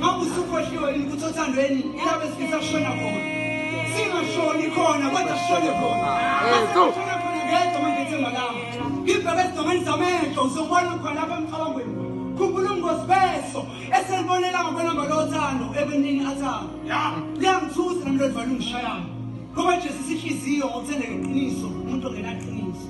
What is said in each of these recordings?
Makusukhohliwe yini ukuthi othandweni ilapho esifisa kushona khona. Singashoni khona kodwa sishone khona. Yesu. Sishone khona ngedwa manje ethemba lami. Ngibheke esidongeni zamehlo uzobona khona lapha emcabangweni. Khumbula ubungozi beso eselibonela ngokwelamba lothando ebenini athanga. Liyangithusa nami lodvalo ungishayanga. Ngoba Jesu sihliziyo ngokuthandeka iqiniso umuntu ongenaqiniso.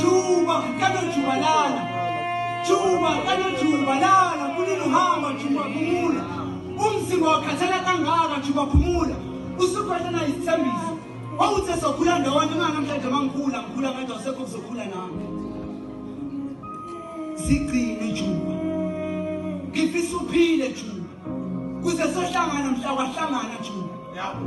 Juba kano jubalala Juba kano jubalala kulelo hamba Juba phumula umzimba wakhathala kangaka Juba phumula usukhona na isithembiso wawuthe sokhula ndawonye uma namhlanje mangikhula ngikhula ngathi awusekho kuzokhula nami sigcine Juba ngifisa uphile Juba kuze sohlangana mhla kwahlangana Juba yabo